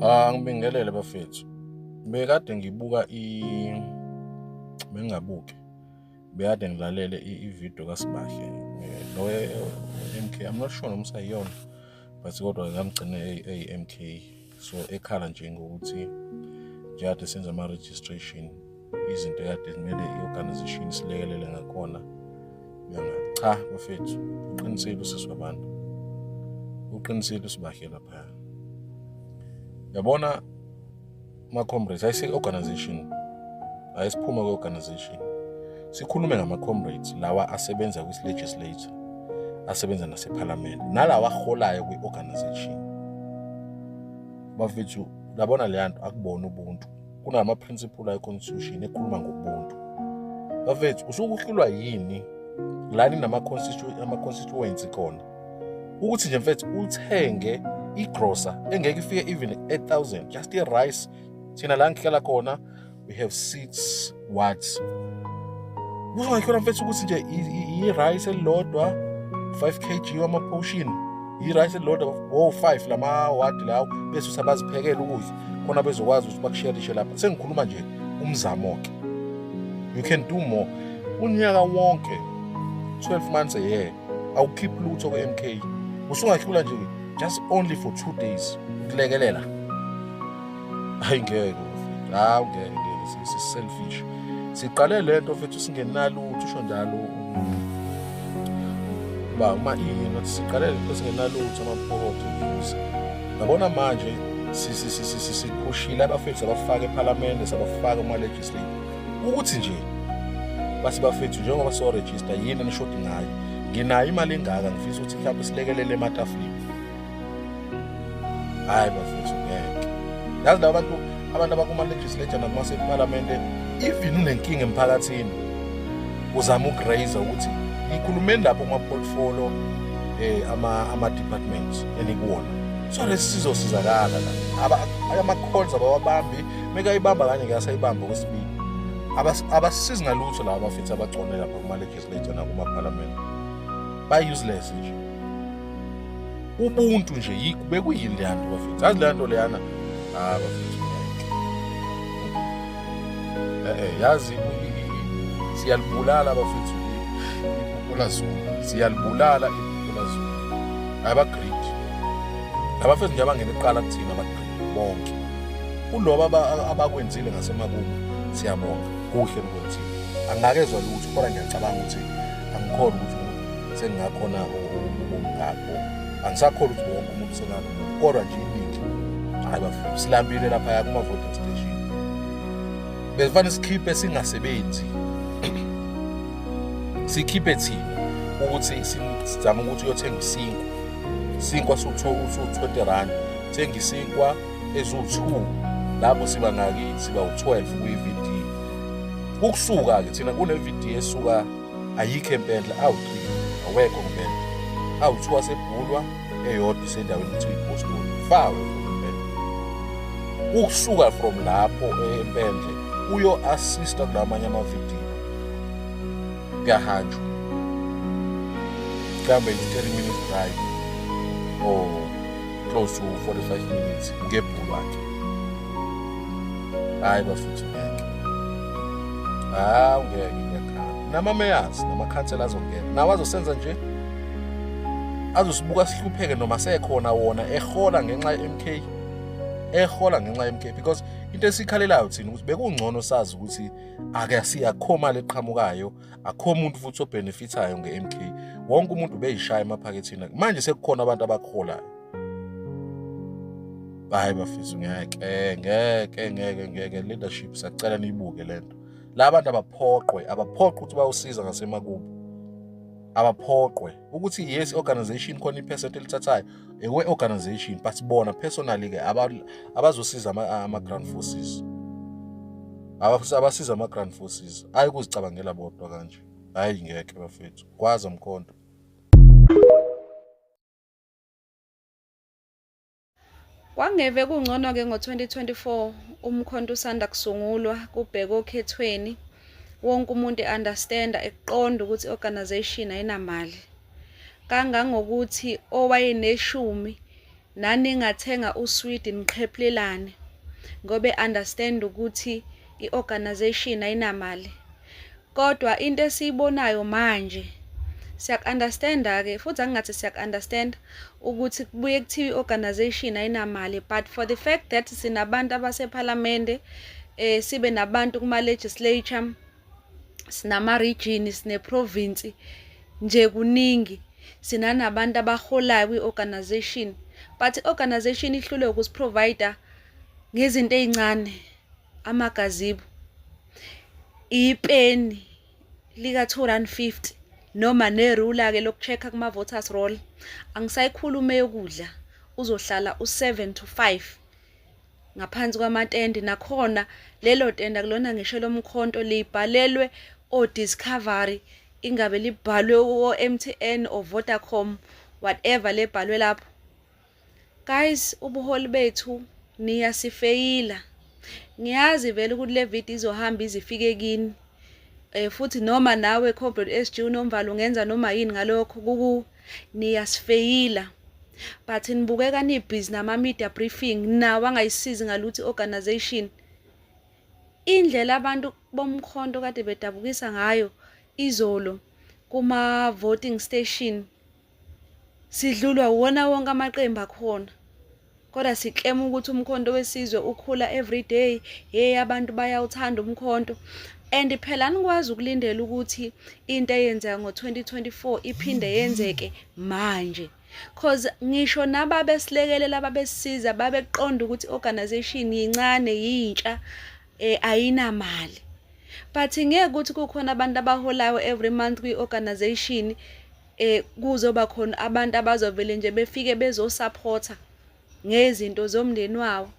Ah ngibingelele bafethu. Bekade ngibuka i bengabuki. Bekade ngilalele i-video kaSibahle. Lo MK I'm not sure noma sayiyona but kodwa ngamgcina eyi MK so ekhala nje ngokuthi njengathi senza ama registration izinto ekade kumele i-organization silekelele ngakhona nyanga cha bafethu uqinisile usisi wabantu uqinisile usibahle laphaya yabona ama-comrades ayise-organization ayisiphume kwe-organization sikhulume ngama-comrades lawa asebenza kwisi-legislature asebenza nasephalamende nalawa aholayo kwi-organization bafethu labona leya nto akubona ubuntu kunama-principle ayi-constitution ekhuluma ngobuntu bafethu usuke uhlulwa yini lani nama-constituency khona ukuthi nje mfethu uthenge igrosa engeke ifike even 8000 just i-rice thina la ngihlala khona we have six words uzongakhona mfethu ukuthi nje i-rice elilodwa 5 kg wama-potion i-rice elilodwa wo-5 lama-wadi lawo bese usabaziphekela ukudla khona bezokwazi ukuthi bakusherishe lapha sengikhuluma nje umzamo-ke you can do more unyaka wonke 12 months a year awukhiphi lutho kwe-m k usungahlula nje just only for two days ukulekelela hayi ngeke hawu ngeke ngeke si-selfish siqale le nto fethu singenalutho usho njalo uba uma iyini siqale le nto singenalutho amaphokothi Ngabona manje siphushile abafethu sabafaka ephalamende sabafaka kuma-legislator ukuthi nje bathi bafethu njengoba siyorejista yini enishodi ngayo nginayo imali engaka ngifisa ukuthi mhlawumbe silekelele ematafuleni hhayi bafethu ngeke yazi laba bantu abantu abakuma-legislature nakumasephalamende even unenkinga emphakathini uzama ukugrayiza ukuthi ngikhulumeni lapho kuma-portfolio um eh, ama-departments elikuwona so lesi sizosizakala la ama-calls abawabambi mekayibamba kanye ke asayibamba okwesibili abasizi ngalutho laba bafethu abagcone lapha kuma-legislator nakumaphalamende ba-useless nje ubuntu nje yikho bekuyini leyanto bafethu azi leyanto leyana ah bafethu eh, eh, yazi siyalibulala bafethu iphuphola zulu siyalibulala iphuphola zulu abagrid abafethu nje abangena iqala kuthina abagrid bonke kuloba abakwenzile ngasemakubo siyabonga kuhle mkwenzile angakezwa lutho kodwa ngiyacabanga ukuthi angikhona ukuthi sengingakhona ubungakho angisakholwa ukuthi wonke umuntu usenalo kodwa nje iningi hayi bafuna silambile laphaya kuma-voting station besifanele sikhiphe singasebenzi sikhiphe thina ukuthi sizame ukuthi uyothenga isinkwa isinkwa siwu-20 rand thenga isinkwa eziwu-2 lapho siba ngaki siba u-12 kwi-vd ukusuka-ke thina kune-vd esuka ayikho empendla awuqili awekho ngempela awuthiwa sebhulwa eyodwa isendaweni kuthiwa ipostoli fawe ukusuka from lapho empendle uyo assista kulamanye amavidiyo kuyahanjwa mhlawumbe it's 30 minutes drive or close to 45 minutes ngebhulu akhe hayi bafuthu ngeke hawu ngeke namamayors namakhansela azongena nawo azosenza nje azosibuka sihlupheke noma sekhona wona ehola ngenxa ye-mk ehola ngenxa ye-mk because into esikhalelayo thina ukuthi bekungcono sazi ukuthi akuyakho mali eqhamukayo akho muntu futhi obhenefithayo nge-mk wonke umuntu ubeyishaya emaphakethini manje sekukhona abantu abakholayo hayi bafisa ngeke ngeke ngeke ngeke leadership sacela niyibuke lento la bantu abaphoqwe abaphoqwe ukuthi bayosiza ngasemakubo abaphoqwe ukuthi yes organization khona ipercent elithathayo ewe organization but bona personally ke abazosiza ama ground forces abasiza ama ground forces ayi kuzicabangela bodwa kanje hayi ngeke bafethu kwaza mkhonto Kwangeve kungcono-ke ngo-2024 umkhonto usanda kusungulwa kubhekwe okhethweni wonke umuntu e-understanda ekuqonda ukuthi i-organization ayinamali kangangokuthi owayeneshumi naningathenga uswidi niqhephulelane ngoba e-understand ukuthi i-organization ayinamali Kodwa into esiyibonayo manje siyaku-understand-ke futhi angingathi siyaku-understand ukuthi kubuye kuthiwa i-organization ayinamali but for the fact that sinabantu abasephalamende eh sibe nabantu kuma-legislature sinama-region sine-province nje kuningi sinanabantu abaholayo kwi-organization but i-organization ihlulwe ukusiprovider ngezinto ey'ncane. amagazibu ipeni lika-250 noma nerula-ke loku-check-a kuma-voters roll angisayikhulume yokudla uzohlala u-7 to 5 ngaphansi kwamatende nakhona lelo tende akulona ngisho lomkhonto libhalelwe o-discovery ingabe libhalwe o-mtn or vodacom whatever lebhalwe lapho Guys, ubuholi bethu niyasifeyila. Ngiyazi vele ukuthi le video izohamba izifike kini. Eh futhi noma nawe Comrade SG unomvalo ungenza noma yini ngalokho kuku niyasifeyila. But nibukeka ni busy nama media briefing nawa ngayisizi ngaluthi organization. Indlela abantu bomkhonto kade bedabukisa ngayo izolo kuma voting station Sidlulwa wona wonke amaqembu akhona. Kodwa siklema ukuthi umkhonto wesizwe ukhula every day. Hey abantu bayawuthanda umkhonto. And phela anikwazi ukulindela ukuthi into eyenzeka ngo-2024 iphinde yenzeke manje. Cause ngisho nababesilekelela babesiza babeqonda ukuthi organization yincane yintsha eh ayinamali. But ngeke ukuthi kukhona abantu abaholayo every month kwi-organization eh kuzoba khona abantu abazovele nje befike bezosupporta ngezinto zomndeni wawo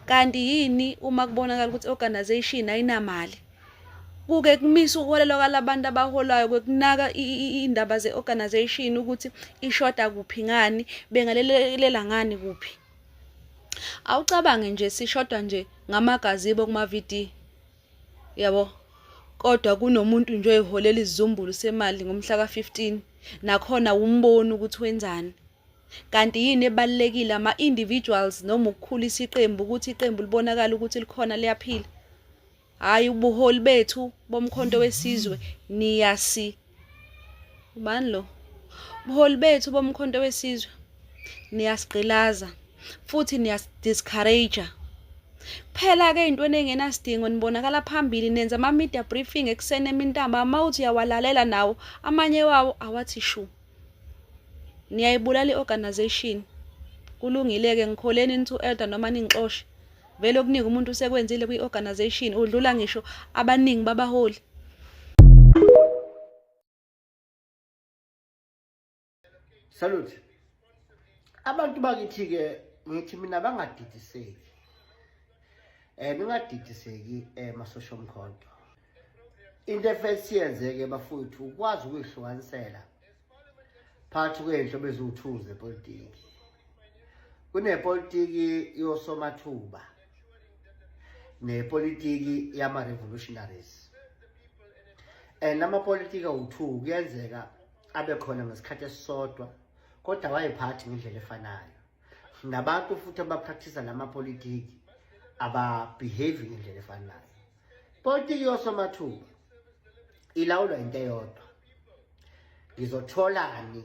kanti yini uma kubonakala ukuthi organization ayinamali kuke kumisa ukuholelwa kwalabantu abaholayo kwekunaka indaba ze-organization ukuthi ishoda kuphi ngani bengalelelela ngani kuphi awucabange nje sishodwa nje ngamagazibo kuma-vd yabo kodwa kunomuntu nje oyiholela izizumbulu semali ngomhla ka-15 nakhona wumboni ukuthi wenzani kanti yini ebalulekile ama-individuals noma ukukhulisa iqembu ukuthi iqembu libonakala ukuthi likhona liyaphila hhayi ubuholi bethu bomkhonto wesizwe niyasi ubani lo buholi bethu bomkhonto wesizwe niyasigqilaza futhi niyasidiscourage Phela-ke ey'ntweni ey'ngenasidingo nibonakala phambili nenza ama-media briefing ekuseni emintamba uma uthi uyawalalela nawo amanye wawo awathi shu. Niyayibulala i-organization. Kulungile-ke ngikholeni nithi u-elder noma ningixoshe. Vele okuningi umuntu usekwenzile kwi-organization udlula ngisho abaningi babaholi. Salute. Abantu bakithi ke ngithi mina bangadidiseki. Eh ningadidiseki eh masosha omkhonto. into efesi yenzeke bafowethu ukwazi ukuyihlukanisela phakathi kwey'nhlobo eziwu-two zepolitiki kunepolitiki yosomathuba nepolitiki yama-revolutionaries and amapolitiki awu-two kuyenzeka abe khona ngesikhathi esisodwa kodwa wayephathi ngendlela efanayo nabantu futhi abapractisa la mapolitiki ababehavi ngendlela efanayo Politiki yosomathuba ilawulwa into eyodwa. Ngizotholani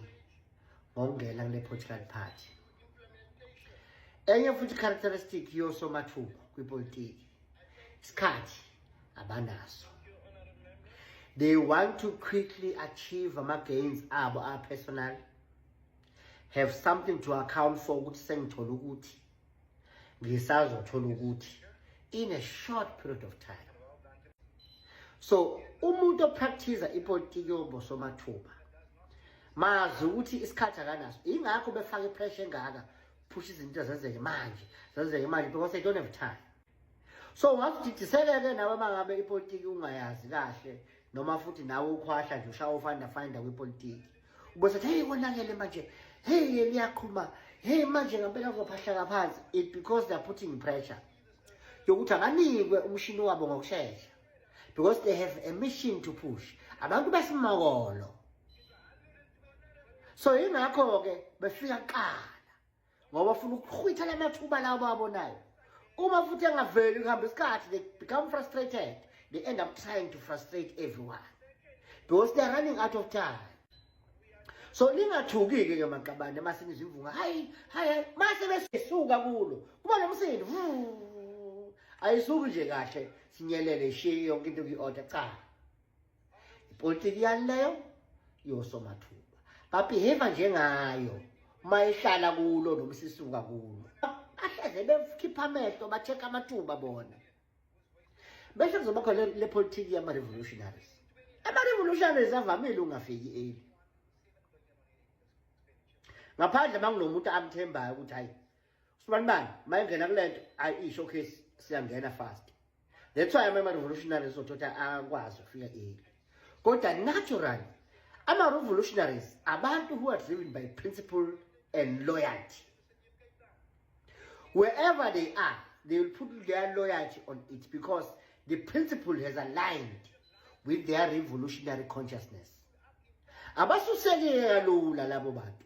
ngokungena kule political party. Enye futhi characteristic yosomathuba kwipolitiki isikhathi abanaso. They want to quickly achieve ama gains abo a personal have something to account for ukuthi sengithola ukuthi ngisazothola ukuthi in a short period of time so umuntu opractice ipolitiki yobosomathuba mazi ukuthi isikhathi akanaso ingakho befaka ipressure engaka phusha izinto zenzeke manje zenzeke manje because they don't have time so ungakudidiseke-ke nawe uma ngabe ipolitiki ungayazi kahle noma futhi nawe ukhwahla nje ushaya ufanda fanda kwipolitiki ubese thi heyi konakele manje heyi yeni yaqhuma heyi manje ngampela kuzophahlaka phansi it because they're putting pressure yokuthi akanikwe umshini wabo ngokushesha because they have a mission to push abantu besimakolo so yingakho-ke befika kuqala ngoba bafuna ukuchwitha la mathuba lawo bawabonayo uma futhi engaveli kuhamba isikhathi they become frustrated they end up trying to frustrate everyone because they're running out of time so lingathuki-ke ke maqabane uma sinizimvunga hayi hayi mase besuka kulo kuba nomsindo ayisuki nje kahle sinyelele ishiye yonke into kuyi-order cha ipolitiki yani leyo yosomathuba babehave njengayo uma ehlala kulo noma sisuka kulo bahleze bekhipha amehlo ba-check-a amathuba bona bese kuzoba khona le politiki yama-revolutionaries ama-revolutionaries avamile ungafiki eli ngaphandle uma kunomuntu amthembayo ukuthi hayi Sibanibani mayengena kulento ayi isho case siyangena fast. That's why ama revolutionaries othatha akwazi ukufika early. Kodwa natural ama revolutionaries abantu who are driven by principle and loyalty. Wherever they are, they will put their loyalty on it because the principle has aligned with their revolutionary consciousness. Abasuseke kalula labo bantu.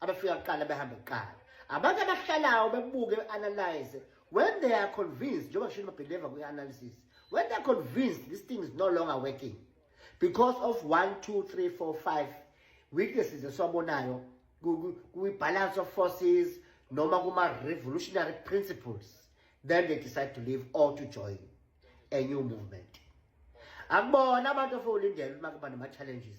abafika kuqala behambe kuqala abantu abahlalayo bebuke be-analyze when they are convinced njengoba shini babhileva kwi-analysis when they are convinced this thing is no longer working because of one two three four five weaknesses esiwabonayo kwi-balance of forces noma kuma-revolutionary principles then they decide to leave or to join a new movement akubona abantu ofowulindela uma kuba nama-challenges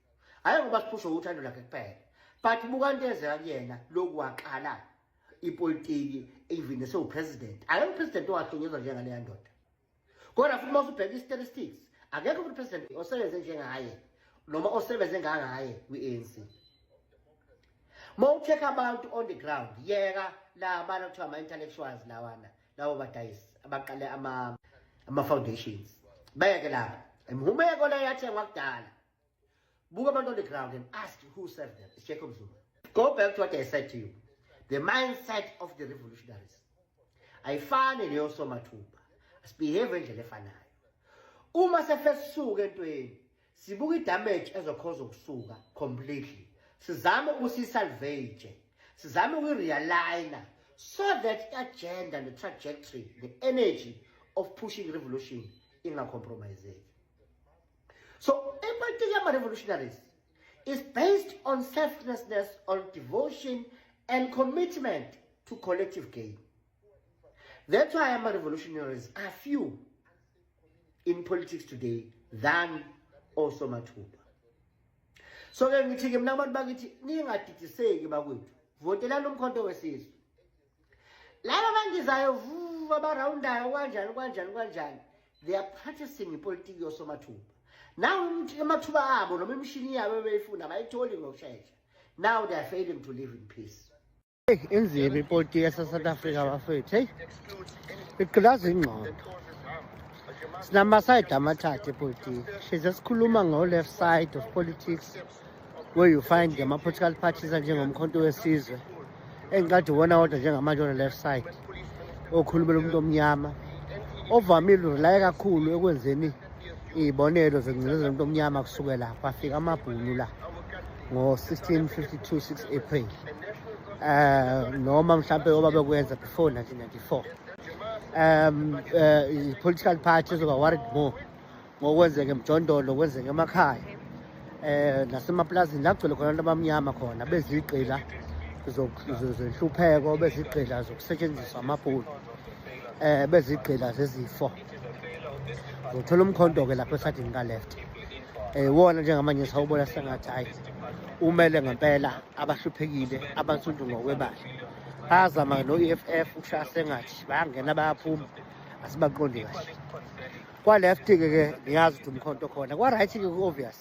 hhayi ngoba siphushe uthando lakhe kuphela but buka into ezeka kuyena loku waqala ipolitiki even esewupresident akekho upresident owahlonyezwa njengaleya ndoda kodwa futhi uma usubheka i-statistics akekho futhi upresident osebenze njengaye noma osebenze ngangaye kwi-anc uma ucheck abantu on the ground yeka la abantu kuthiwa ama-intellectuals lawana labo badayisi abaqale ama-foundations bayeke lapha imhumeko leyo yathengwa kudala Buka abantu on the ground and ask who served them. It's Jacob Zuma. Go back to what I said to you. The mindset of the revolutionaries. Ayifane leyo somathuba. Asibehave endlela efanayo. Uma sefesuka entweni, sibuka idamage ezokhoza ukusuka completely. Sizame ukusisalvage. Sizame ukurealigner so that agenda the trajectory, the energy of pushing revolution ingacompromiseki. So ipolitiki yama-revolutionaries is based on selflessness, on devotion and commitment to collective gain. That's why ama-revolutionaries are few in politics today than osomathuba. So-ke ngithi-ke mna abantu bakithi ningadidiseki bakwethu votelani umkhonto wesizwe laba bandizayo vuva barawundayo kwanjani kwanjani kwanjani they are practicing ipolitiki yosomathuba now amathuba abo noma imishini yabo beyifuna abayitholi ngokushesha now they are failing to live in peace inzima ipolitiki yasesouth africa bafethu heyi igqilaza ingqondo sinama-side amathathu epolitiki shize sikhuluma ngo-left side of politics where you find the political parties anjengomkhonto wesizwe engiqade uwona wodwa njengamanje on the left side okhulumela umuntu omnyama ovamile urelaye kakhulu ekwenzeni iy'bonelo zengcinezelo umuntu omnyama kusukela kwafika amabhunu la ngo-1652 6 april um noma mhlawumpe oba bekwenza before 1994 um uh, political party ezoba worried more ngokwenzeka emjondolo kwenzeka emakhaya eh nasemaplazini la kugcwele khona abantu abamnyama khona bezigqila zenhlupheko bezigqila zokusetshenziswa amabhulu eh bezigqila zezifo zothola umkhonto-ke lapho esadini ka-left um wona njengamanje sawubona sengathi hhayi umele ngempela abahluphekile abansundu ngokwebala bayazama no-e f f ukushaya sengathi bayangena bayaphuma asibaqondi kahle Kwa-left ke ke ngiyazi ukuthi umkhonto khona kwa-right ke ku-obvious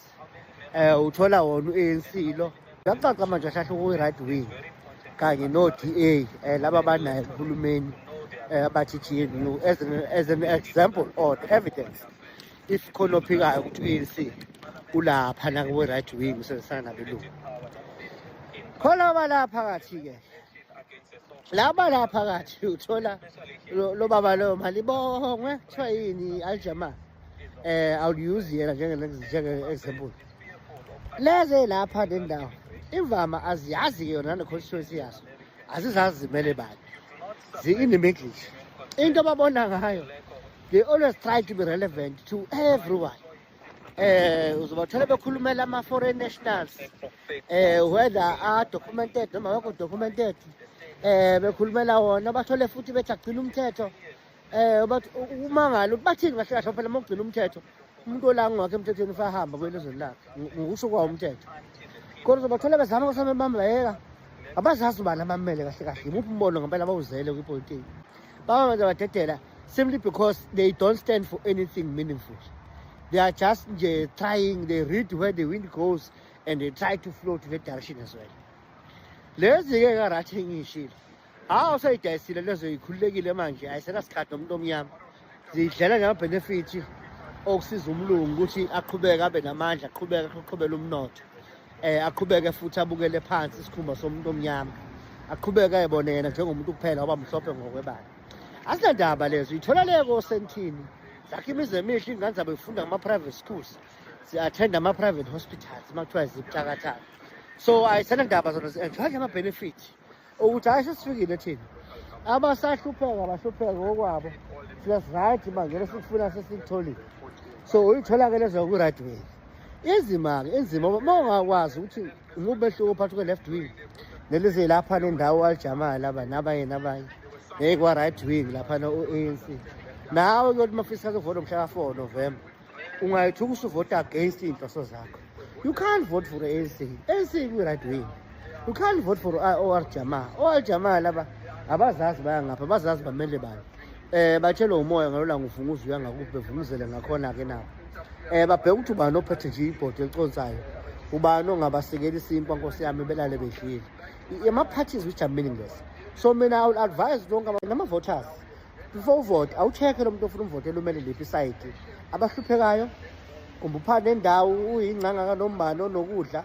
um uthola wona u-anc lo kuyacaca manje ahlahla kuyi-right wing kanye no-d a um eh, laba banaye kuhulumeni um eh, abathi gnu as an, as an example or evidence if khona ophikayo ukuthi u-anc ulapha nakwe-right wing usebenzisana nabelungu khona balapha kathi-ke laba lapha phakathi uthola lo baba lo mali bongwe kuthiwa yini aljama eh awuyiuzi yena njenge njenge example leze lapha le ndawo imvama aziyazi ke yona ne-constituency yaso azizazi zimele bani zi-in the middle into ababona ngayo they always try to be relevant to everyone eh uzobathola bekhulumela ama foreign nationals eh whether are documented noma wekho documented eh bekhulumela wona bathole futhi bethi agcina umthetho eh bathi umangalo bathini kahle kahle phela mokugcina umthetho umuntu olangi wakhe emthethweni ufahamba kwelizweni lakhe ngokusho kwawo umthetho kodwa uzobathola bezama kusame bamlayeka abazazi ubani abamele kahle kahle yimuphi umbono ngempela bawuzele kwipolitiki baba manje badedela simply because they don't stand for anything meaningful they are just nje trying they read where the wind goes and they try to flow to that direction as well lezi-ke karathi engiyishile hawu seyidayisile lezo yikhululekile manje ayisenasikhathi nomuntu omnyama zidlela ngamabhenefithi okusiza umlungu ukuthi aqhubeke abe namandla aqhubeke aqhubele umnotho um aqhubeke futhi abukele phansi isikhumba somuntu omnyama aqhubeke ayebone yena njengomuntu kuphela waba mhlophe ngokwebala asinandaba lezo ithola leko osentini zakhe imizi emihle ingane zabo ifunda kuma-private schools zi-attend ama-private hospitals uma kuthiwa zibuthakathaka so ayisanandaba zona zi-enjoy nje ama-benefit ukuthi hhayi sesifikile thina abasahlupheka bahlupheka ngokwabo thina siright manje lesikufuna sesikutholile so uyithola-ke lezo ku-right way inzima-ke inzima uma ungakwazi ukuthi Ngubehluko phakathi kwe-left wing nelize lapha nendawo alijamala laba nabanye nabanye ngeke kwa-right wing laphana u-anc nawe kuyothi uma fisa kuvota mhla ka-four november ungayithi ukusuvota against iy'nhloso zakho you can't vote for anc anc kwi-right wing you can't vote for or jamaa or jamaa laba abazazi baya ngapha abazazi bamele bani eh batshelwe umoya ngalola ngifunga uzuya ngakuphi bevumuzele ngakhona ke nabo eh babheke ukuthi ubani ophethe nje ibhodi eliconsayo ubani ongabasekeli isinkwa nkosi yami belale bedlile ama parties which are meaningless so mina i will advise lonke nama voters before uvote awucheke lomuntu ofuna umvotela umele liphi side abahluphekayo kumbuphana nendawo uyingcanga kanombani onokudla